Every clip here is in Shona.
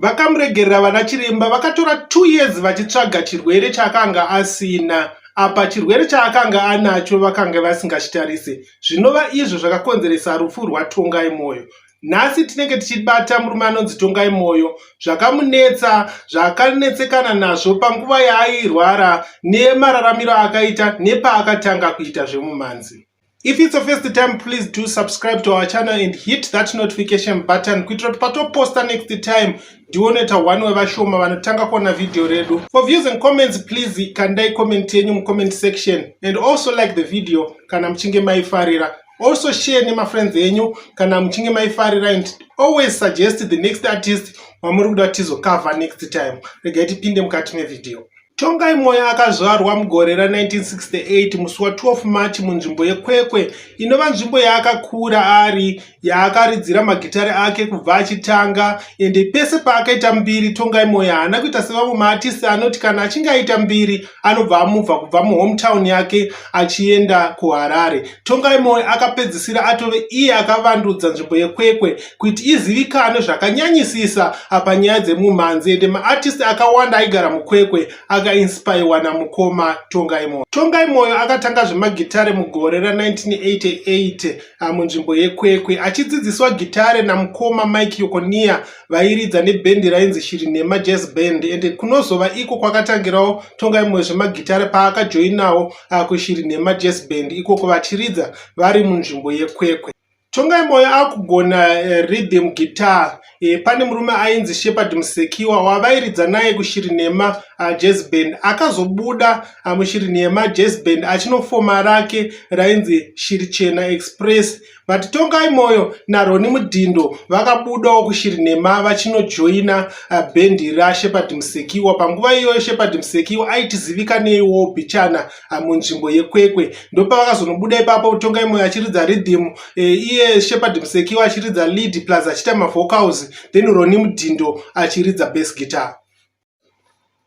vakamuregerera vana chiremba vakatora two years vachitsvaga chirwere chaakanga asina apa chirwere chaakanga anacho vakanga vasingachitarise zvinova izvo zvakakonzeresa rufu rwatongai mwoyo nhasi tinenge tichibata murume anonzi tongai mwoyo zvakamunetsa zvakanetsekana nazvo panguva yaairwara nemararamiro akaita nepaakatanga kuita zvemumhanzi If it's your first time, please do subscribe to our channel and hit that notification button kuitira kuti patoposta next time ndionoita one wevashoma vanotanga kuona vhidhiyo redu. For views and comments, please kandai comment yenyu mucomment section and also like the video kana muchinge maifarira. Also share nemafriends enyu kana muchinge maifarira and always suggest the next artist wamuri kuda kuti tizocover next time. Regai tipinde mukati mevhidhiyo. Tongai Moyo akazvarwa mugore ra1968 musi wa 12 March munzvimbo yeKwekwe inova nzvimbo yaakakura ari yaakaridzira magitare ake kubva achitanga ende pese paakaita mbiri Tongai Moyo haana kuita sevamwe maartisti anoti kana achinge aita mbiri anobva amubva kubva muhometown yake achienda kuHarare. Tongai Moyo akapedzisira atove iye akavandudza nzvimbo yeKwekwe kuti izivikanwe zvakanyanyisisa apa nyaya dzemumhanzi ende maartist akawanda aigara mukwekwe akainspirewa namukoma tongai moyo tongai moyo akatanga zvemagitare mugore ra1988 ah, munzvimbo yekwekwe achidzidziswa gitare namukoma mike yokonia vairidza nebhendi rainzi shiri nhema jazz band ende kunozova iko kwakatangirawo tongai moyo zvemagitare paakajoinawo ah, kushiri nhema jazz band ikoko vachiridza vari munzvimbo yekwekwe Tongai Moyo akugona eh, rhythm guitar eh, pane murume ainzi Shepherd Musekiwa wavairidza naye kushiri nhema uh, jazz band akazobuda uh, mushiri nhema jazz band achinofoma rake rainzi shiri chena express vati Tongai Moyo naRoni Mudhindo vakabudawo kushiri nhema vachinojoina uh, band raShepherd Musekiwa panguva iyoyo Shepherd Musekiwa aitizivikaneiwo bichana ah, munzvimbo yekwekwe ndopavakazonobuda ipapo kutonga imwe achiridza rhythm eh, iye shepard musekiwa achiridza lead plus achiita mavocals then roni mudhindo achiridza bas guitar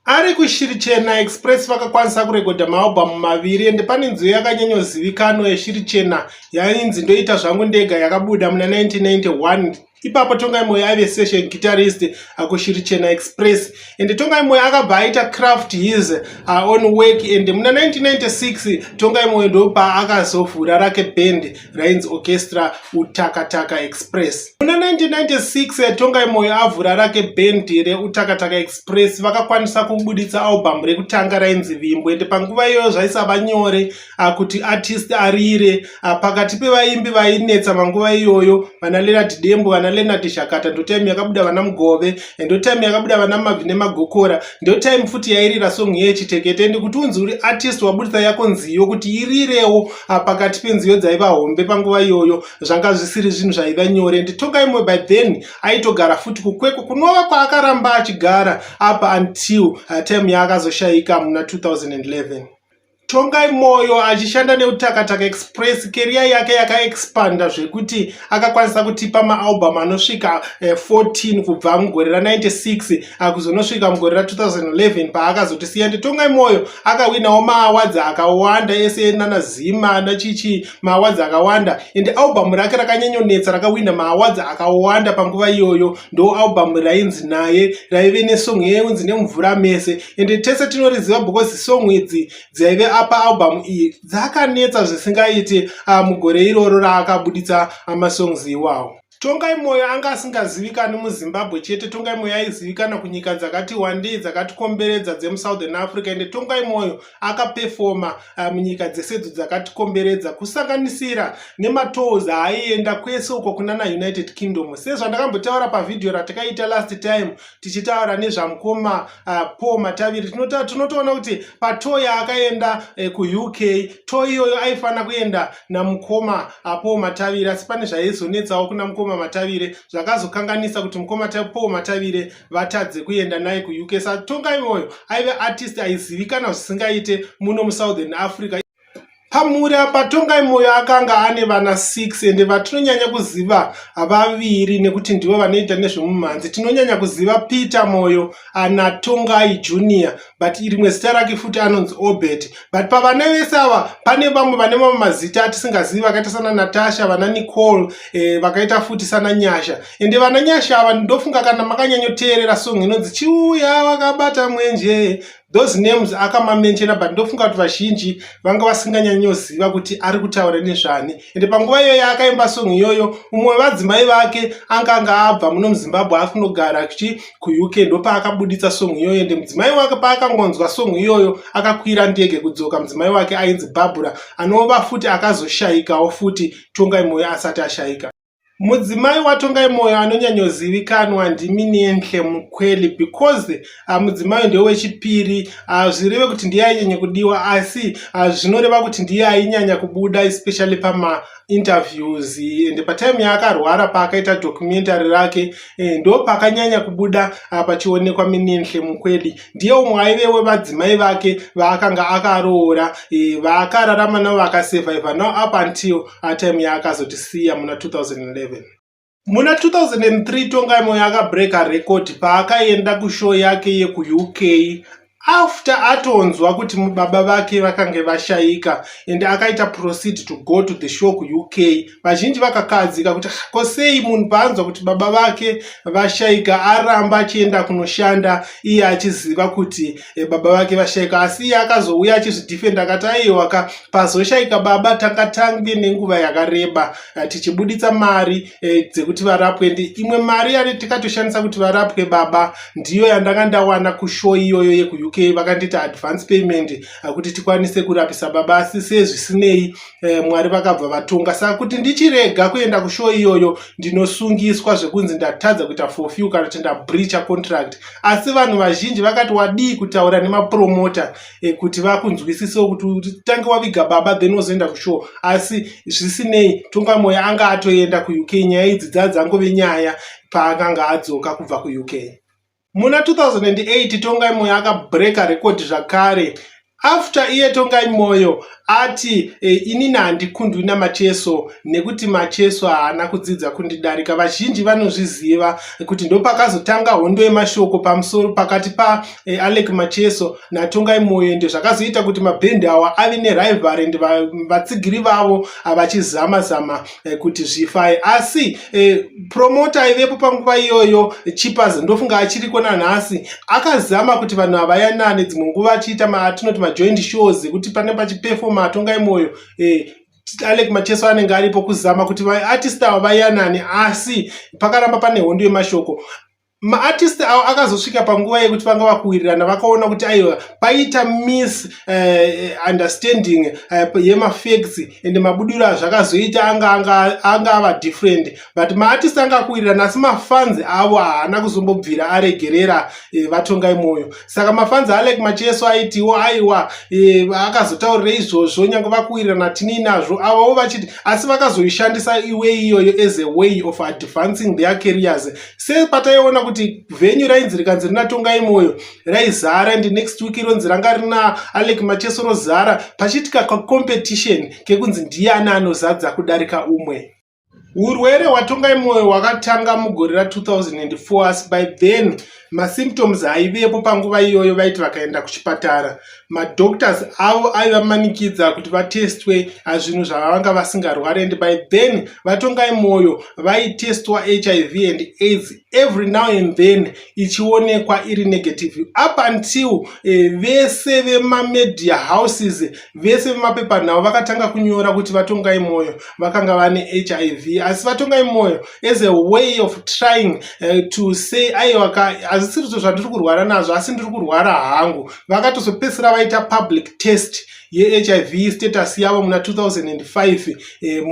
ari kushiri chena express vakakwanisa kurekodha maalbhamu maviri ende pane nziyo yakanyanyozivikanwa yeshiri chena yainzi ndoita zvangu ndega yakabuda muna 1991 ipapo tongai moyo aive session guitarist akushiri chena express and tongai moyo akabva aita craft his uh, on work and muna 1996 tongai moyo ndopa akazovhura rake band rainzi orchestra utakataka express muna 1996 eh, tongai moyo avhura rake band reutakataka express vakakwanisa kubuditsa album rekutanga rainzi vimbo and panguva iyoyo zvaisava nyore ah, kuti artist arire ah, pakati pevaimbi vainetsa manguva iyoyo vana lenard dembo vana lenard shakata ndotime yakabuda vana mugove ndotime yakabuda vana mabvi nemagokora ndotime futi yairira song yechitekete ndi kuti unzi uri artist wabudisa yako nziyo kuti irirewo ah, pakati penziyo dzaiva hombe panguva iyoyo zvanga zvisiri zvinhu zvaiva nyore nditoka imwe by then aitogara futi kukweko kunova kwaakaramba achigara apa until time yaakazoshaika muna 2011 Tongai Moyo achishanda neUtakataka Express, keriya yake yakaexpanda zvekuti akakwanisa kutipa maalbum anosvika 14 eh, kubva mugore ra96 ah, kuzonosvika mugore ra2011 paakazotisiya ndi Tongai Moyo akawinawo maawadzi akawanda ese nana Zima nachichi maawadzi akawanda and album rake rakanyanyonetsa rakawina maawadzi akawanda panguva iyoyo ndo album rainzi naye raive nesong yeinzi nemvura mese ende tese tinoriziva because song idzi dzaive apa album iyi dzakanetsa zvisingaiti ah, mugore iroro raakabuditsa ah, masongs iwawo tongai mwoyo anga asingazivikani muzimbabwe chete tongai mwoyo aizivikana kunyika dzakati wandei dzakatikomberedza dzemusouthern africa ende tongai mwoyo akapefoma eh, munyika dzesedzo dzakatikomberedza kusanganisira nematows aaienda kwese uko kunana united kingdom sezvandakambotaura pavhidhiyo ratakaita last time tichitaura nezvamukoma uh, paul mataviri tinotoona kuti pato yaakaenda eh, kuuk to iyoyo aifanira kuenda namukoma uh, paul mataviri asi pane zvaizonetsawo kuna mukoma matavire zvakazokanganisa kuti mukoma paul matavire vatadze kuenda naye kuuk satongai moyo aive artist aizivikana zvisingaite muno musouthern africa pamhuri apa tongai moyo akanga ane vana 6 ende vatinonyanya kuziva vaviri nekuti ndivo vanoita nezvemumhanzi tinonyanya kuziva peter moyo ana tongai junior but rimwe zita rake futi anonzi obert but pavana vese ava pane vamwe vane mamwe mazita atisingazivi vakaita sana natasha vana nicole eh, vakaita futi sana nyasha ende vana nyasha ava ndofunga kana makanyanyoteerera song inonzi chiuya wakabata mwenje those names akamamenchena but ndofunga kuti vazhinji vanga vasinganyanyoziva kuti ari kutaura nezvani ende panguva iyoyo akaimba song iyoyo mumwe wevadzimai vake anga anga abva muno muzimbabwe ari kunogara achi kuuk ndopaakabuditsa song iyoyo ende mudzimai wake paakangonzwa song iyoyo akakwira ndege kudzoka mudzimai wake ainzi barbura anova futi akazoshayikawo futi tongai moyo asati ashayika Mudzimai waTongai Moyo anonyanyozivikanwa ndimi Nenhle Mukweli because ah, mudzimai ndiye wechipiri ah, zvireve kuti ndiye ainyanya kudiwa asi ah, zvinoreva kuti ndiye ainyanya kubuda especially pama interviews and patime yaakarwara paakaita documentary rake eh, ndo pakanyanya kubuda pachionekwa Minenhle Mukweli ndiye umwe aive wevadzimai vake vaakanga akaroora eh, vaakararama navo vakasurviva now up until atime yaakazotisiya muna 2011 muna 2003 tongai moyo akabreaka record paakaenda kushow yake yekuuk after atonzwa kuti baba vake vakange vashaika and akaita proceed to go to the show kuuk vazhinji vakakadzika kuti ko sei munhu paanzwa kuti baba vake vashaika aramba achienda kunoshanda iye achiziva kuti e, baba vake vashaika asi iye akazouya achizvidhifenda akati aiwa ka pazoshaika baba tanga tange nenguva yakareba eh, tichibuditsa mari e, dzekuti varapwe ndi imwe mari yari tikatoshandisa kuti varapwe baba ndiyo yandanga ndawana kushow iyoyo yekuuk vakandiita advance payment eh, kuti tikwanise kurapisa baba asi sezvisinei e, mwari vakabva vatonga saka kuti ndichirega kuenda kushow iyoyo ndinosungiswa zvekunzi ndatadza kuita forfew kana kuti ndabreacha contract asi vanhu vazhinji vakati wadii kutaura nemapromota eh, kuti vakunzwisisewo kuti tange waviga baba then wozoenda kushow asi zvisinei tongamoya anga atoenda kuuk nyaya idzi dzaa dzangove nyaya paakanga adzoka kubva kuuk muna 2008 tongai moya akabreaka rekodi zvakare After iye Tongai Moyo ati e, inini handikundwi naMacheso nekuti Macheso haana kudzidza kundidarika. Vazhinji vanozviziva kuti ndopakazotanga hondo yemashoko pamusoro pakati pa e, Alec Macheso naTongai Moyo ende zvakazoita kuti mabhendi awa ave nerivalry ende vatsigiri vavo vachizama zama eh, kuti zvifai asi eh, promota aivepo panguva iyoyo chipas ndofunga achiriko nanhasi akazama kuti vanhu havayanane dzimwe nguva achiita maatinoti majoint shows ekuti pane pachipefoma atongai mwoyo eh, alek macheso anenge aripo kuzama kuti vaartist ava vayanane asi pakaramba pane hondo yemashoko maartist avo akazosvika panguva yekuti vanga vakuwirirana vakaona kuti aiwa paita miss uh, understanding uh, yemafacts and mabudiro azvakazoita anga anga anga ava different but maartist anga akuwirirana asi mafans avo haana kuzombobvira aregerera uh, vatongai mwoyo saka mafans alek macheso aitiwo aiwa uh, akazotaurira izvozvo nyange vakuwirirana tinii nazvo avavo vachiti asi vakazoishandisa iwei iyoyo as a way of advancing their carriers sepataiona kuti venyu rainzi rikanzi rina tongai moyo raizara and next week ironzi ranga rina alec macheso rozara pachiitika kacompetition kekunzi ndiani anozadza kudarika umwe urwere hwatongai moyo hwakatanga mugore ra 2004 asi by then masymptoms aivepo panguva iyoyo vaiti vakaenda kuchipatara madoctors avo aivamanikidza kuti vatestwe zvinhu zvavanga vasingarwari and by then vatongai mwoyo vaitestwa hiv and aids every now and then ichionekwa iri negative up until eh, vese vemamedia houses vese vemapepanhau vakatanga kunyora kuti vatongai mwoyo vakanga vane hiv asi vatongai mwoyo as a way of trying eh, to say aiwaka hazisirizvo zvandiri kurwara nazvo asi ndiri kurwara hangu vakatozopedzisira vaita public test yehiv status yavo muna 2005 eh,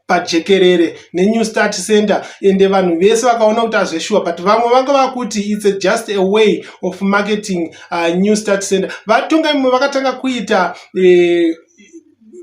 pajekerere nenew start center ende vanhu vese vakaona kuti azveshuwa but vamwe vanga vakuti its a just a way of marketing uh, new start center vatonga imwe vakatanga kuita eh,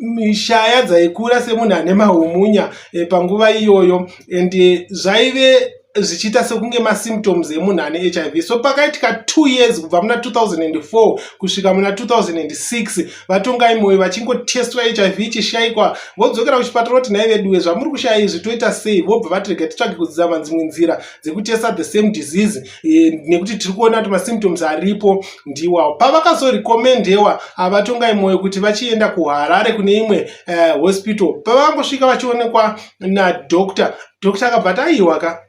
mishaya dzaikura semunhu ane mahumunya e, panguva iyoyo and eh, zvaive zvichiita sekunge masymptoms emunhu ane hiv so pakaitika two years kubva muna 2004 kusvika muna 2006 vatongai moyo vachingotestwa hiv ichishayikwa vodzokera kuchipatara kuti nhai veduwe zvamuri kushaya izvi toita sei vobva vati rega titsvage kudzama dzimwe nzira dzekutesta the same disease e, nekuti tiri kuona kuti masymptoms aripo ndiwawo pavakazorekomendewa havatongai mwoyo kuti vachienda kuharare kune imwe uh, hospital pavangosvika vachionekwa nadoctor doctor akabva ati aiwa ka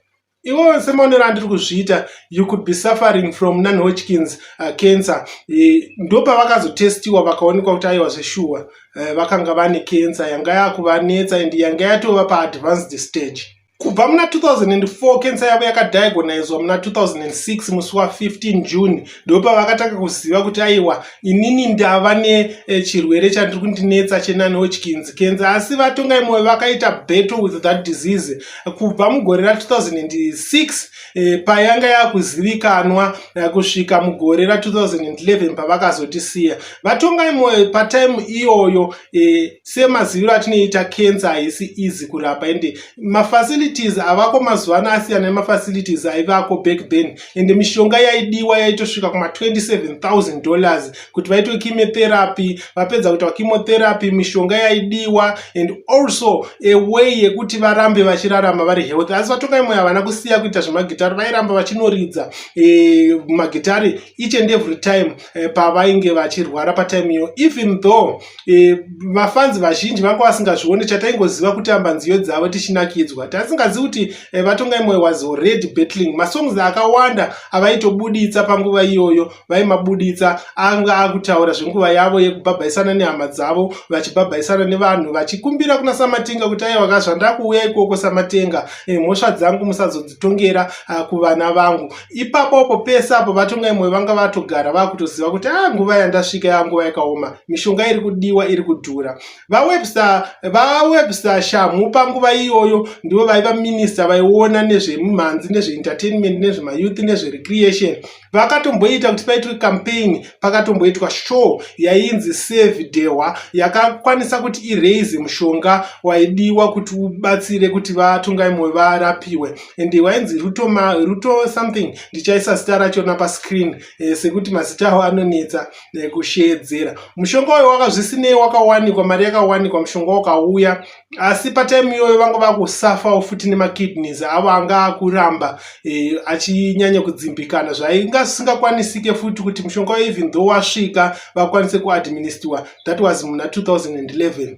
iwo semaonero andiri kuzviita you could be suffering from non hodgkins uh, cancer e, ndopavakazotestiwa vakaonekwa kuti aiwa zveshuwa uh, vakanga vane cancer yanga yakuvanetsa and yanga yatova paadvanced stage Kubva muna 2004 kensa yavo yakadiagonizwa muna 2006 musi wa 15 June ndipo pavakatanga kuziva kuti aiwa inini ndava nechirwere eh, chandiri kundinetsa chenanochkins kensa asi vatongai moyo vakaita battle with that disease kubva mugore ra 2006 eh, payanga yakuzivikanwa eh, kusvika mugore ra 2011 pavakazotisiya vatongai moyo patime iyoyo eh, semaziviro atinoita cancer haisi easy kurapa ende mafacilities avako mazuva ano asiyana nemafacilities aivako back then ende mishonga yaidiwa yaitosvika kuma 27000 dollars kuti vaitwe chemotherapy vapedza kuitwa chemotherapy mishonga yaidiwa and also a way yekuti varambe vachirarama vari healthy asi vatongai moyo havana kusiya kuita zvemagitari vairamba vachinoridza e, magitari each and every time eh, pavainge vachirwara patime iyo even though eh, vafanzi vazhinji vanga vasingazvione chataingoziva kuti amba nziyo dzavo tichinakidzwa taisingazivi kuti eh, vatonga imwe was already battling masongs akawanda avaitobuditsa panguva iyoyo vaimabuditsa anga akutaura zvenguva yavo yekubhabhaisana nehama dzavo vachibhabhaisana nevanhu vachikumbira kuna samatinga kuti aiwa kazvandakuuya ikoko samatenga eh, mhosva dzangu musazodzi kuzotongera ah, kuvana vangu ipapo apo pese apo vatonga imwe vanga vatogara vakutoziva kuti a ah, nguva yandasvika yanguva yakaoma mishonga iri kudiwa iri kudhura vawebsa vawebsa shamhu panguva iyoyo ndivo vaiva minista vaiona nezvemumhanzi nezveentertainment nezvemayouth nezverecreation vakatomboita kuti paitwe campaign pakatomboitwa show yainzi save dehwa yakakwanisa kuti iraise mushonga waidiwa kuti ubatsire kuti vatungaimwe varapiwe and wainzi ruto, ma, ruto something ndichaisa zita rachona pascreen eh, sekuti mazita awo anonetsa eh, kusheedzera mushonga uyo wakazvisinei wakawanikwa mari yakawanikwa mushonga wakauya asi patime iyoyo vanga vakusafawo futi nemakidneys avo anga akuramba e, achinyanya kudzimbikana zvainga zvisingakwanisike futi kuti mushonga even though wasvika vakwanise kuadministiwa that was muna 2011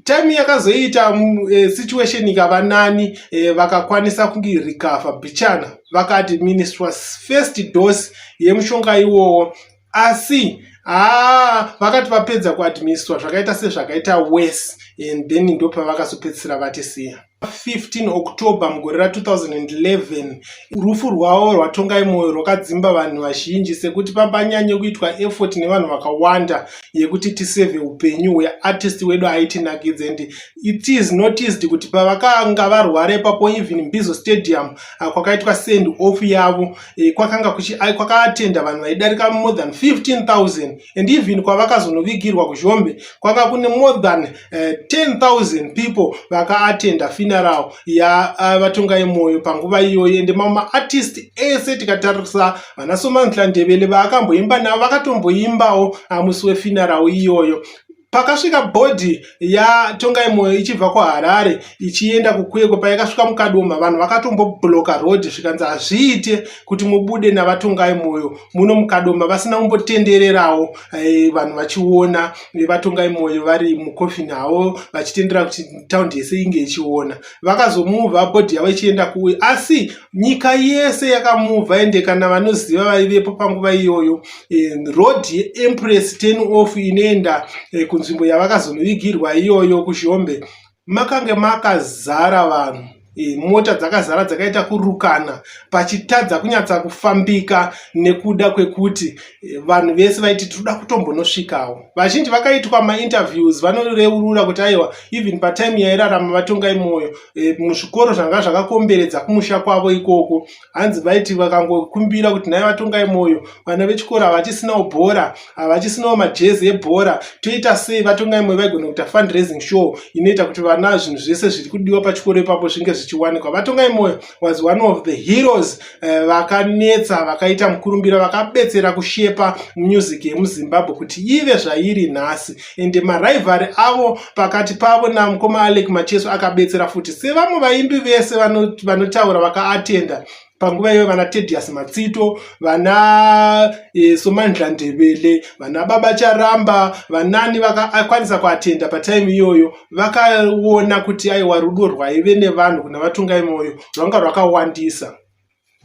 time yakazoita mm, eh, situation ikava nani eh, vakakwanisa kunge recover bichana vakaadministra first dose yemushonga iwowo asi haa vakati vapedza kuadministra zvakaita sezvakaita wes and then ndopavakazopedzisira vatisiya 15 october mugore ra 2011 rufu rwavo rwatongai mwoyo rwakadzimba vanhu vazhinji sekuti papanyanye kuitwa effort nevanhu vakawanda yekuti tiseve upenyu hweartist wedu aitinakidza and it is noticed kuti pavakanga varwara ipapo even mbizo stadium ah, kwakaitwa send off yavo e, kwakanga kuchi kwakaatenda vanhu vaidarika more than 15000 and even kwavakazonovigirwa kuzhombe kwanga kune more than uh, eh, 10000 people vakaatenda funeral ya uh, vatonga yemoyo panguva iyoyo ende mamwe maartist ese tikatarisa vana somantla ndebele vaakamboimba navo vakatomboimbawo amusi wefuneral iyoyo pakasvika bhodhi yatongai moyo ichibva kuharare ichienda kukwekwe payakasvika mukadoma vanhu vakatombobloka road zvikanzi hazviite kuti mubude navatongai moyo muno mukadoma vasina kumbotendererawo eh, vanhu vachiona eh, vatongai moyo vari mukofini havo vachitendera kuti taundi yese inge ichiona vakazomuvha bhodhi yavo ichienda kuwe asi nyika yese yakamuvha ende kana vanoziva vaivepo panguva iyoyo eh, road yeempress ten off inoenda eh, kunzvimbo yavakazonovigirwa iyoyo kuzhombe makange makazara vanhu eh, mota dzakazara dzakaita kurukana pachitadza kunyatsa kufambika nekuda kwekuti vanhu vese vaiti tinoda kutombonosvikawo vazhinji vakaitwa mainterviews vanoreurura kuti aiwa even patime yairarama vatongai mwoyo e, muzvikoro zvanga zvakakomberedza kumusha kwavo ikoko hanzi vaiti vakangokumbira kuti nhai vatongai mwoyo vana vechikoro havachisinawo bhora havachisinawo majezi ebhora toita sei vatongai mwoyo vaigona kuita fundraising show inoita kuti vana zvinhu zvese zviri kudiwa pachikoro ipapo zvinge zvichiwanikwa vatongai mwoyo was one of the heroes eh, vakanetsa vakaita mukurumbira vakabetsera kushepa music yemuzimbabwe kuti ive zvairi nhasi ende marivari avo pakati pavo namukoma alec macheso akabetsera futi sevamwe vaimbi vese vanotaura vakaatenda panguva iyoyo vana tedius matsito vana e, somandla ndebele vana baba charamba vanani vakakwanisa kuatenda pataimi iyoyo vakaona kuti aiwa rudo rwaive nevanhu kuna vatungai moyo rwanga rwakawandisa